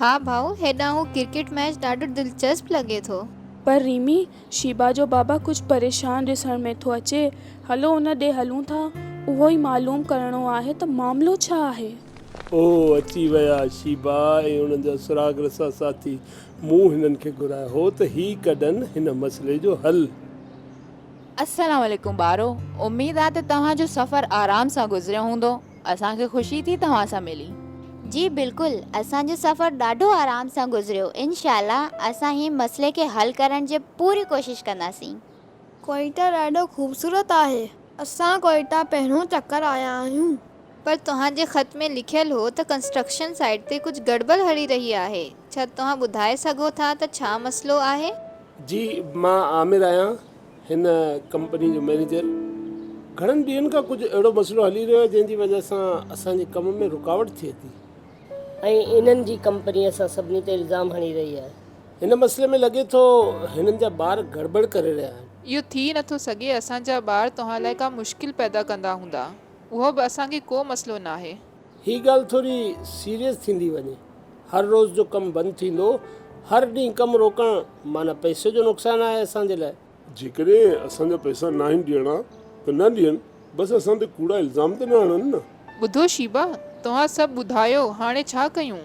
ها ڀائو هيڏانهن اهو ڪرڪيٽ ميچ ڏاڍو دلچسپ لڳي ٿو. پر ريمي، شيبا جو بابا ڪجهه پريشان ڏسڻ ۾ ٿو اچي. هلو ان ڏي هلون ٿا. اهو ئي معلوم ڪرڻو آهي ته معاملو ڇا آهي. او اچي ويا شيبا ۽ انهن جا سراغ رسا ساٿي. مون هنن کي گهرايو هو ته هي ڪڍن هن مسئلي جو حل. السلام عليڪم ٻارو. اميد آهي ته توهان جو سفر آرام سان گذريو هوندو. اسان کي خوشي ٿي توهان سان ملي. جي بلڪل اسان جو سفر ڏاڍو آرام سان گذريو انشاء الله اسان هي مسئلي کي حل ڪرڻ جي پوري ڪوشش ڪنداسين. ڪوئيٽا ڏاڍو خوبصورت آهي. اسان ڪوئيٽا پهريون چڪر آيا آهيون. پر توهان جي خط ۾ لکيل هو ته ڪنسٽرڪشن سائيٽ تي ڪجهه گڙٻڙ هلي رهي آهي ڇا توهان ٻڌائي سگهو ٿا ته ڇا مسئلو آهي؟ جي مان عامر آهيان هن ڪمپني جو مئنيجر، گهڻن ڏينهن کان ڪجهه اهڙو مسئلو هلي رهيو آهي، جنهن جي وجهه سان اسان جي ڪم ۾ رڪاوٽ ٿئي ٿي. ۽ انهن جي ڪمپني اسان سڀني تي الزام هڻي رهي آهي. هن مسئلي ۾ لڳي ٿو هنن جا ٻار گڙٻڙ ڪري رهيا آهن. اهو ٿي نه ٿو سگهي، اسان جا ٻار توهان لاء ڪا مشڪل پيدا ڪندا هوندا، اهو به اسان کي ڪو مسئلو ناهي. هي ڳالهه ٿوري سيريس ٿيندي وڃي. هر روز جو ڪم بند ٿيندو، هر ڏينهن ڪم روڪڻ معنيٰ پئسي جو نقصان آهي اسان جي لاء. جيڪڏهن اسان جا پئسا ناهن ڏيڻا ته نه ڏين، بس اسان تي ڪوڙا الزام ته نه هڻن نه. ٻڌو شيبا، توهان سڀ ٻڌايو هاڻي ڇا ڪيون؟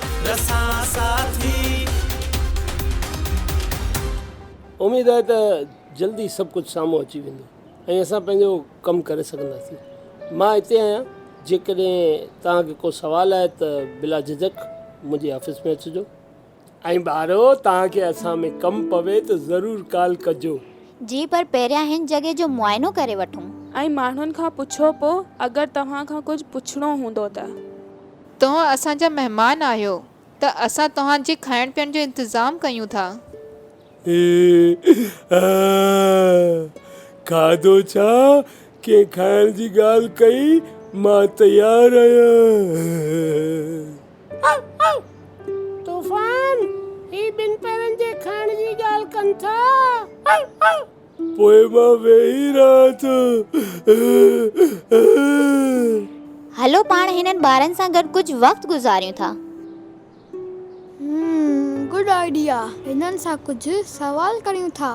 رسان ساٿي. اميد آهي ته جلد ئي سڀ ڪجهه سامهون اچي ويندو ۽ اسان پنهنجو ڪم ڪري سگهنداسين. مان اتي آهيان جيڪڏهن توهان کي ڪو سوال آهي ته بلا جهجڪ منهنجي آفيس ۾ اچجو. ۽ ٻارو توهان کي اسان ۾ ڪم پوي ته ضرور ڪال ڪجو. جي پر پهريان هن جڳهه جو معائنو ڪري وٺون. ۽ ماڻهن کان پڇو پوء اگر توهان کان ڪجهه پڇڻو هوندو ته. توهان اسان جا مهمان آهيو ته اسان توهان جي کائڻ پيئڻ جو انتظام ڪيون ٿا. اي اهه کاڌو ڇا ڪنهن کائڻ جي ڳالهه ڪئي مان تيار آهيان. طوفان، هي ٻن پيرن جي کائڻ جي ڳالهه ڪن ٿا. پوء مان ويهي رهان ٿو. هلو پاڻ هنن ٻارن سان گڏ ڪجهه وقت گذاريون ٿا. هم گڊ آئيڊيا هنن سان ڪجهه سوال ڪريون ٿا.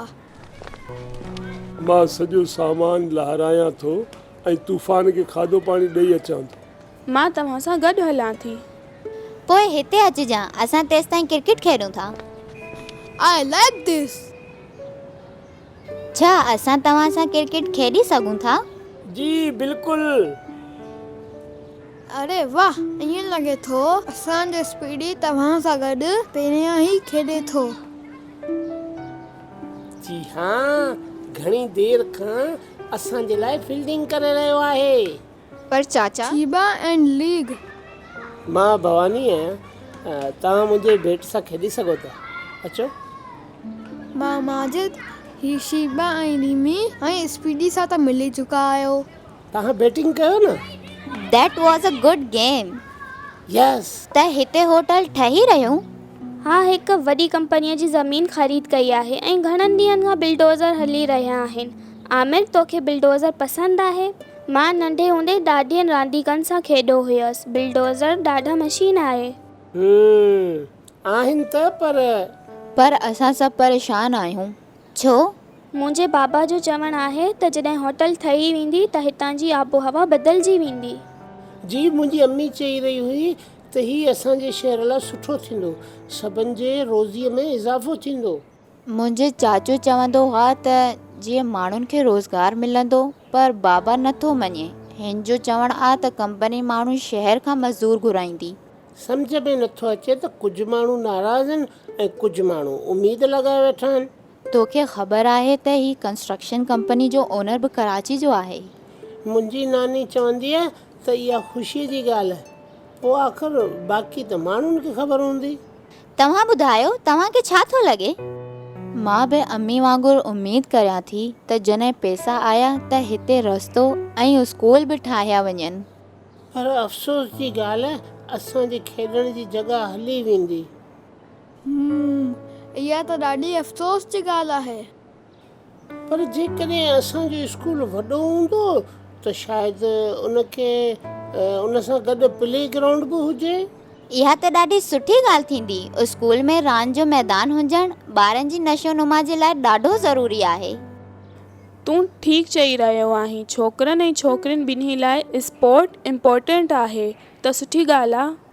مان سڄو سامان لهرايان ٿو ۽ طوفان کي کاڌو پاڻي ڏئي اچان ٿو. مان توهان سان گڏ هلان ٿي. پوء هتي اچجان. اسان تيستائين ڪرڪيٽ کيڏون ٿا. I like this. ڇا اسان توهان سان ڪرڪيٽ کيڏي سگهون ٿا؟ جي بلڪل. اري واه ائين لڳي ٿو اسان جو اسپيڊي توهان سان گڏ پهريان ئي کيڏي ٿو. جي ها گهڻي دير کان اسان جي لاء فيلڊنگ ڪري رهيو آهي. پر چاچا! ڇيبا ائنڊ ليگ. مان ڀواني آهيان. توهان منهنجي ڀيٽ سان کيڏي سگهو ٿا. اچو. مان ماجد، هي شيبا ۽ ريمي ۽ اسپيڊي سان ته ملي چڪا آهيو. توهان بيٽنگ ڪيو نه. That was a good game. Yes. ته هتي هوٽل ٺهي رهيون؟ ها هڪ وڏي ڪمپنيء جي زمين خريد ڪئي آهي ۽ گهڻن ڏينهن کان بلڊوزر هلي رهيا آهن عامر توکي بلڊوزر پسند آهي؟ مان ننڍي هوندي ڏاڏين رانديڪن سان کيڏو هيس. بلڊوزر ڏاڍا مشين آهي. هم آهن ته پر. پر اسان سڀ پريشان آهيون ڇو؟ منهنجي بابا جو چوڻ آهي ته جڏهن هوٽل ٺهي ويندي ته هتان جي آبوهوا بدلجي ويندي. جي منهنجي امي چئي رهي هئي ته هي اسان جي شهر لاء سٺو ٿيندو. سڀن جي روزي ۾ اضافو ٿيندو. منهنجي چاچو چوندو هئا ته جيئن ماڻهن کي روزگار ملندو پر بابا نه ٿو مڃي. هن جو چوڻ آ ته ڪمپني ماڻهو شهر کان مزدور گهرائيندي. سمجهه ۾ نه ٿو اچي ته ڪجهه ماڻهو ناراض آهن ۽ ڪجهه ماڻهو اميد لڳائي ويٺا آهن. توکي خبر آهي ته هي ڪنسٽرڪشن ڪمپني جو اونر به ڪراچي جو آهي. منهنجي ناني چوندي آ ته اها خوشي جي ڳالهه آهي. پوء آخر باقي ته ماڻهن کي خبر هوندي. توهان ٻڌايو توهان کي ڇا ٿو لڳي؟ مان به امي وانگر اميد ڪريان ٿي ته جڏهن پئسا آيا ته هتي رستو ۽ اسڪول به ٺاهيا وڃن. پر افسوس جي ڳالهه اسان جي کيڏڻ جي جڳهه هلي ويندي. هم اها ته ڏاڍي افسوس جي ڳالهه آهي. پر جيڪڏهن اسان جو اسڪول وڏو هوندو ته شايد ان کي ان سان گڏ پلي گرائونڊ به هجي. اها ته ڏاڍي سٺي ڳالهه ٿيندي. اسڪول ۾ راند جو ميدان هجڻ ٻارن جي نشو نما جي لاء ڏاڍو ضروري آهي. تون ٺيڪ چئي رهيو آهين ڇوڪرن ۽ ڇوڪرين ٻنهي لاء اسپورٽ امپورٽنٽ آهي ته سٺي ڳالهه آ.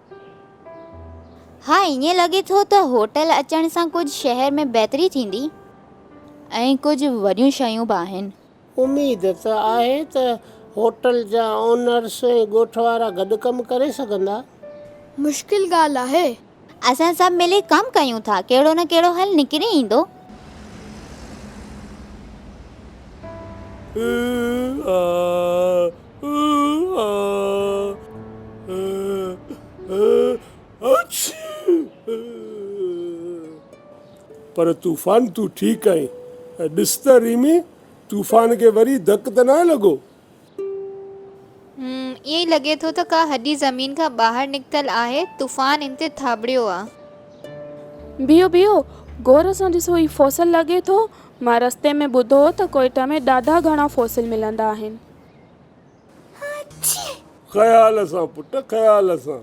ها ائين لڳي ٿو ته هوٽل اچڻ سان ڪجهه شهر ۾ بهتري ٿيندي ۽ ڪجهه وڏيون شيون به آهن. اميد ته آهي ته هوٽل جا اونرس ۽ ڳوٺ وارا گڏ ڪم ڪري سگهندا. مشڪل ڳالهه آهي. اسان سڀ ملي ڪم ڪيون ٿا ڪهڙو نه ڪهڙو حل نڪري ايندو. پر طوفان تون ٺيڪ آهين ۽ ڏس ته ريمي طوفان کي وري ڌڪ ته ناهي لڳو؟ هوم ائين لڳي ٿو ته ڪا هڏي زمين کان ٻاهر نڪتل آهي طوفان ان تي ٿاٻڙيو آ. بيهو بيهو غور سان ڏسو هي فوسل لڳي ٿو مان رستي ۾ ٻڌو هو ته ڪوئيٽا ۾ ڏاڍا گهڻا فوسل ملندا آهن. خيال سان پٽ خيال سان.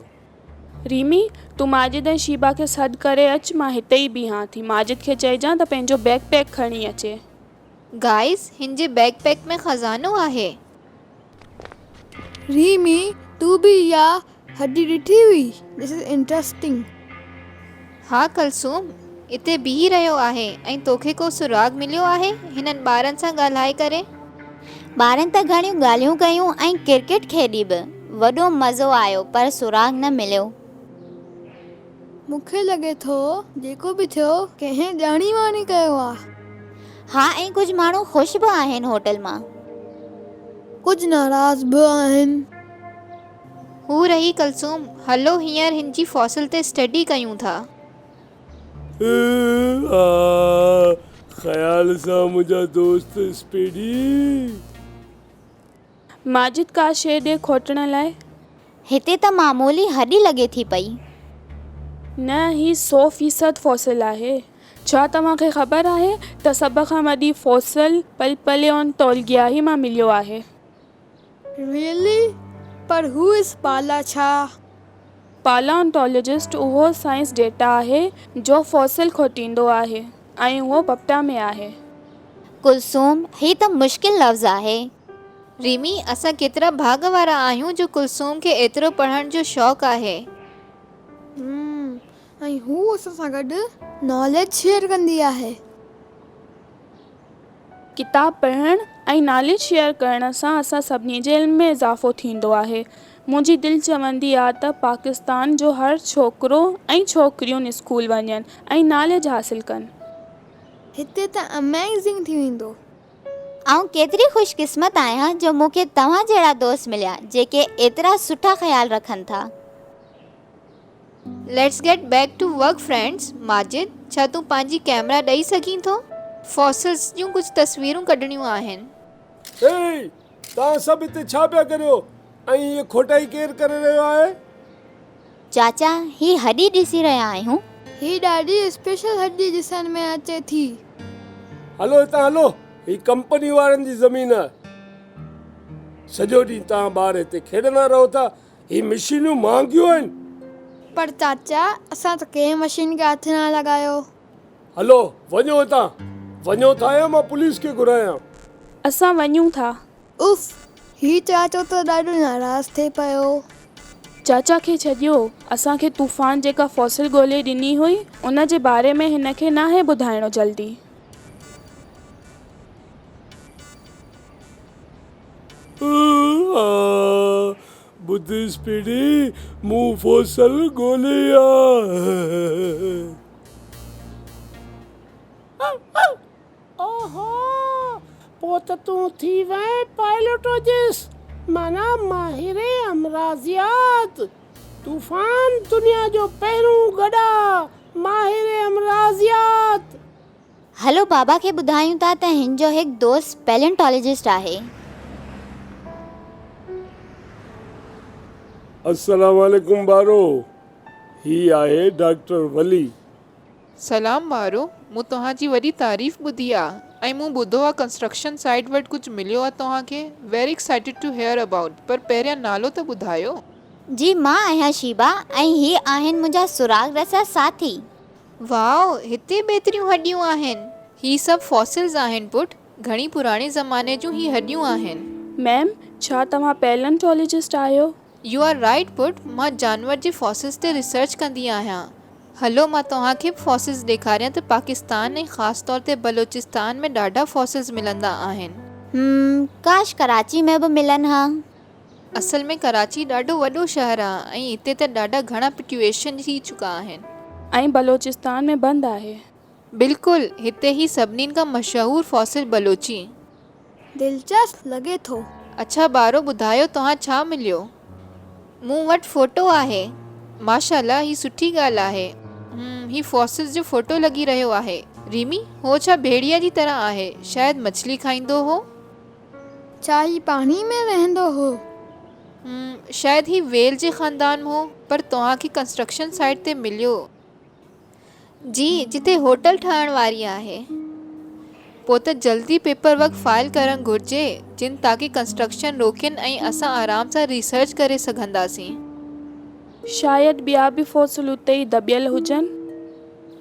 ريمي، تون ماجد ۽ شيبا کي سڏ ڪري اچ مان هتي ئي بيهان ٿي. ماجد کي چئجان ته پنهنجو بيگ پيڪ کڻي اچي. گائيز، هن جي بيگ پيڪ ۾ خزانو آهي. ريمي، تون به اها هڏي ڏٺي هئي This is interesting. ها ڪلثوم اتي بيهي رهيو آهي ۽ توکي ڪو سراغ مليو آهي هنن ٻارن سان ڳالهائي ڪري. ٻارن ته گهڻيون ڳالهيون ڪيون ۽ ڪرڪيٽ کيڏي به وڏو مزو آيو پر سراغ نه مليو. مون کي لڳي ٿو جيڪو به ٿيو ڪنهن ڄاڻي واڻي ڪيو آ. ها ۽ ڪجهه ماڻهو خوش به آهن هوٽل مان. ڪجهه ناراض به آهن. هو رهي ڪلثوم، هلو هينئر هن جي فوسل تي اسٽڊي ڪيون ٿا. هيء آء خيال سان منهنجا دوست اسپيڊي. ماجد ڪا شيء ڏي کوٽڻ لاء. هتي ته معمولي هڏي لڳي ٿي پئي. نه هي سو فيصد فوسل آهي. ڇا توهان کي خبر آهي ته سڀ کان وڏي فوسل پلپليونٽولگيائي مان مليو آهي. Really؟ پر هو اس بالا ڇا؟ Palaeontologist اهو سائنس ڊيٽا آهي جو فوسل کوٽيندو آهي ۽ اهو بپٽا ۾ آهي. ڪلثوم، هي ته مشڪل لفظ آهي. ريمي، اسان ڪيترا ڀاڳ وارا آهيون جو ڪلثوم کي ايترو پڙهڻ جو شوق آهي. Hum، ۽ هو اسان سان گڏ ناليج شيئر ڪندي آهي. ڪتاب پڙهڻ ۽ ناليج شيئر ڪرڻ سان اسان سڀني جي علم ۾ اضافو ٿيندو آهي. منهنجي دل چوندي آ ته پاڪستان جو هر ڇوڪرو ۽ ڇوڪريون اسڪول وڃن ۽ ناليج حاصل ڪن. هتي ته Amazing ٿي ويندو. آئون ڪيتري خوش قسمت آهيان جو مون کي توهان جهڙا دوست مليا جيڪي ايترا سٺا خيال رکن ٿا. Let's get back to work friends Majid ڇا تون پنهنجي ڪيمرا ڏئي سگهين ٿو فوسلز جون ڪجهه تصويرون ڪڍڻيون آهن. هيء! توهان سڀ هتي ڇا پيا ڪريو ۽ هيء کوٽائي ڪير ڪري رهيو آهي؟ چاچا هي هڏي ڏسي رهيا آهيون. هي ڏاڍي اسپيشل هڏي ڏسڻ ۾ اچي ٿي. هلو هتان هلو هي ڪمپني وارن جي زمين آهي. سڄو ڏينهن توهان ٻار هتي کيڏندا رهو ٿا هي مشينون مهانگيون آهن. پر چاچا اسان ته ڪنهن مشين کي هٿ ناهي لڳايو. هلو وڃو هتان. وڃو ٿا يا مان پوليس کي گهرايان. اسان وڃون ٿا. اف هي چاچو ته ڏاڍو ناراض ٿي پيو. چاچا کي ڇڏيو. اسان کي طوفان جيڪا فوسل ڳولي ڏني هئي ان جي باري ۾ هن کي ناهي ٻڌائڻو جلدي. اها ٻڌيس پيڙهي مون فوسل ڳولي آ. اوهو، پوء ته تون ٿي وئين پائلوٽوجسٽ، معنيٰ ماهر امراضيات. طوفان، دنيا جو پهرون گڏا ماهر امراضيات. هلو بابا کي ٻڌايون ٿا ته هن جو هڪ دوست پيلينٽالاجسٽ آهي. السلام عليڪم ٻارو هي آهي ڊاڪٽر ولي. سلام ٻارو مون توهان جي وڏي تعريف ٻڌي آ ۽ مون ٻڌو آ ڪنسٽرڪشن سائيٽ وٽ ڪجهه مليو آ توهان کي very excited to hear about پر پهريان نالو ته ٻڌايو. جي مان آهيان شيبا ۽ هي آهن منهنجا سراغ رسه ساٿي. واء! هتي به ايتريون هڏيون آهن؟ هي سڀ فوسلز آهن پٽ، گهڻي پراڻي زماني جون هي هڏيون آهن. ميم، ڇا توهان پيلنٽولوجسٽ آهيو؟ يو آر رائيٽ پٽ، مان جانور جي فوسلز تي ريسرچ ڪندي آهيان. هلو مان توهان کي به فوسلز ڏيکاريان ته پاڪستان ۽ خاص طور تي بلوچستان ۾ ڏاڍا فوسلز ملندا آهن. هم، ڪاش ڪراچي ۾ به ملن ها. اصل ۾ ڪراچي ڏاڍو وڏو شهر آهي ۽ اتي ته ڏاڍا گهڻا پٽيوشن ٿي چڪا آهن. ۽ بلوچستان ۾ بند آهي. بلڪل هتي هي سڀنين کان مشهور فاصل بلوچي. دلچسپ لڳي ٿو. اڇا ٻارو ٻڌايو توهان ڇا مليو. مون وٽ فوٽو آهي. ماشاءالله هي سٺي ڳالهه آهي. هم هي فاصل جو فوٽو لڳي رهيو آهي. ريمي هو ڇا ڀيڙيا جي طرح آهي شايد مڇلي کائيندو هو. ڇا هي پاڻي ۾ وهندو هو؟ م، شايد هي ويل جي خاندان م هو، پر توهان کي ڪنسٽرڪشن سائيٽ تي مليو. جي، جتي هوٽل ٺهڻ واري آهي. پوء ته جلدي پيپر ورڪ فائل ڪرڻ گهرجي جن تاڪي ڪنسٽرڪشن روڪين ۽ اسان آرام سان ريسرچ ڪري سگهنداسين. شايد ٻيا به فوسل اتي ئي دٻيل هجن.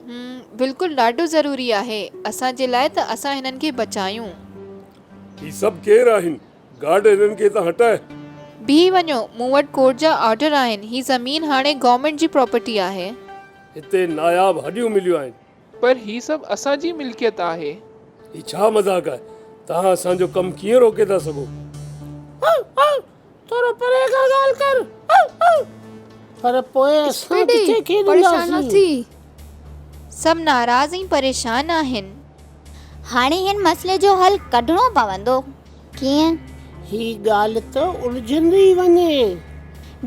هم بلڪل ڏاڍو ضروري آهي اسان جي لاء ته اسان هنن کي بچايون. هي سڀ ڪير آهن؟ گارڊ هنن کي اتان هٽاء. بيهي وڃو مون وٽ ڪورٽ جا آرڊر آهن هي زمين هاڻي گورنمينٽ جي پراپرٽي آهي. هتي ناياب هڏيون مليون آهن. پر هي سڀ اسان جي ملڪيت آهي. هي ڇا مذاق آهي؟ توهان اسان جو ڪم ڪيئن روڪي ٿا سگهو. ٿورو پري کان ڳالهه ڪر پر پوء اسان ڪٿي کيڏنداسين. سڀ ناراض ۽ پريشان آهن. هاڻي هن مسئلي جو حل ڪڍڻو پوندو. ڪيئن؟ هي ڳالهه ته الجهندي وڃي.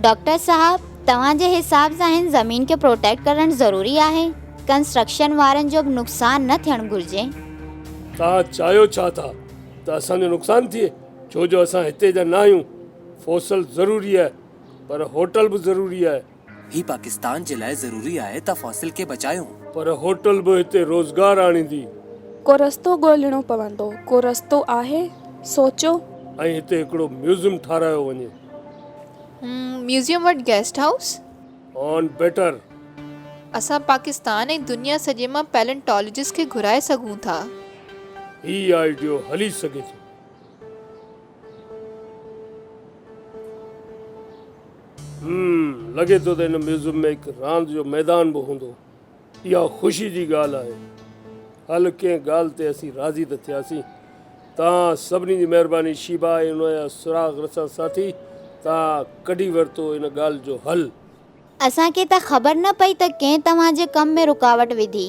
ڊاڪٽر صاحب توهان جي حساب سان هن زمين کي پروٽيڪٽ ڪرڻ ضروري آهي. ڪنسٽرڪشن وارن جو به نقصان نه ٿيڻ گهرجي. توهان چاهيو ڇا ٿا ته اسان جو نقصان ٿئي؟ ڇو جو اسان هتي جا نه آهيون. فوسل ضروري آهي پر هوٽل به ضروري آهي. هي پاڪستان جي لاء ضروري آهي ته فوسل کي بچايون. پر هوٽل به هتي روزگار آڻيندي. ڪو رستو ڳولهڻو پوندو. ڪو رستو آهي؟ سوچو. ۽ هتي هڪڙو ميوزم ٺاراهيو وڃي. ميوزم وٽ گيسٽ هائوس. On better. اسان پاڪستان ۽ دنيا سڄي مان پيلنٽالوجسٽ کي گهرائي سگهون ٿا. هي آئيڊيو هلي سگهي ٿو. لڳي ٿو ته هن ميوزم ۾ هڪ راند جو ميدان به هوندو. اها خوشي جي ڳالهه آهي. هل ڪنهن ڳالهه تي اسين راضي ته ٿياسين. توهان سڀني جي مهرباني شيبا ۽ ان جا سراغ رسان ساٿي توهان ڪڍي ورتو ان ڳالهه جو حل. اسان کي ته خبر نه پئي ته ڪنهن توهان جي ڪم ۾ رڪاوٽ وڌي.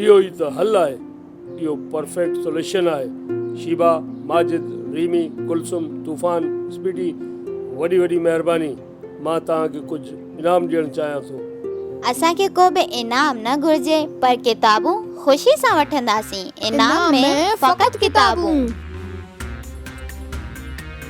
اهو ئي ته حل آهي. اهو پرفيڪٽ سوليشن آهي. شيبا، ماجد، ريمي، ڪلثوم، طوفان، سپيڊي وڏي وڏي مهرباني. مان توهان کي ڪجهه انعام ڏيڻ چاهيان ٿو. اسان کي ڪو به انعام نه گهرجي پر ڪتابون خوشي سان وٺنداسين. انعام ۾ فقط ڪتابون.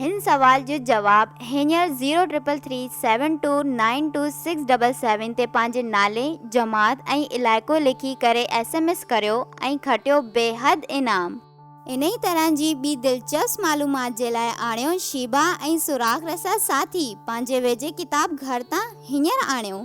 هن سوال جو جواب هينئر zero triple three seven two nine two six double seven تي پنهنجي نالي، جماعت ۽ علائقو لکي ڪري ايس ايم ايس ڪريو ۽ کٽيو بيحد انعام. انهي طرح جي ٻي دلچسپ معلومات جي لاء آڻيو شيبا ۽ سراغ رسا ساٿي پنهنجي ويجهي ڪتاب گهر تان هينئر آڻيو.